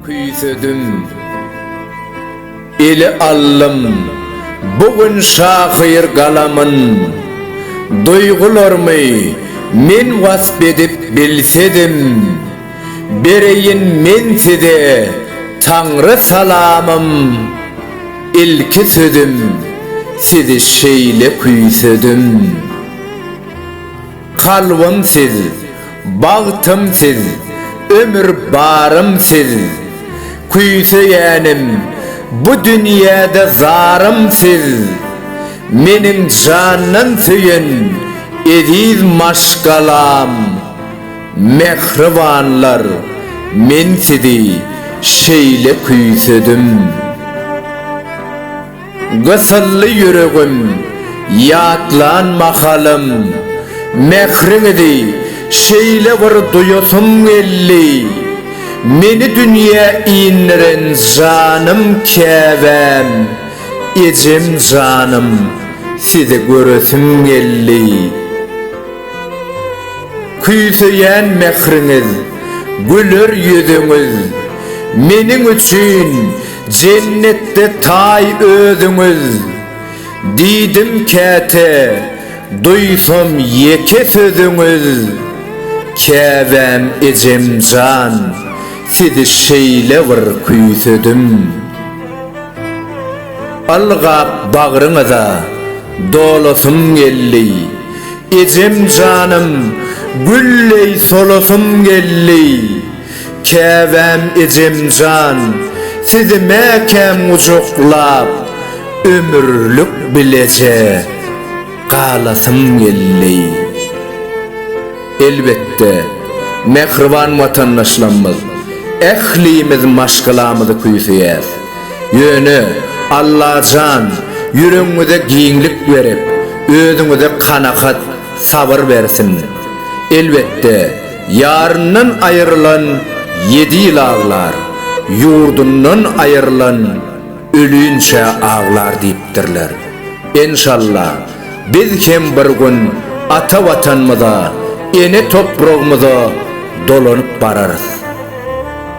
Küýsedim, ele aldym bu gün şahyr galamyn, Duýgularymy men wasp edip bilsedim, Bereýin men size Taňry salamym Ilki sözüm sizi şeýle küýsedim Kalbym siz, bagtym siz, ömür barym siz Küýseýänim bu dünýäde zarym siz Meniň jandan söýen eziz maşgalam. Mähribanlar, men sizi şeýle küýsedim. Gysyldy ýüregim, ýatlan mahalym. Mähriňizi şeýle bir duýasym geldi. Meni dünýä indiren janym käbäm, ejem janym, sizi göresim geldi. Küýseýän mähriňiz, güler ýüzüňiz, Meniň üçin jennetde taý özüňiz. Diýdim käte, duýsam ýeke sözüňiz, Käbäm ejem jan, sizi şeýle bir küýsedim. Ylgap bagryňyza dolasym geldi. Ejem janym, gülleý solasym geldi. Käbäm ejem jan, sizi mäkäm gujaklap, ömürlik bileje galasym geldi. Elbetde, mähriban watandaşlarymyz, ählimiz maşgalamyzy küýseýäs. Ýöne, Allajan, ýüregiňize giňlik berip, özüňize kanagat, sabyr bersin. Elbetde, ýaryndan aýrylan ýedi ýyl aglar, ýurdundan aýrylan ölinçä aglar diýipdirler. Enşalla, biz hem bir gün ata Watanymyza, ene topragymyza dolanyp bararys.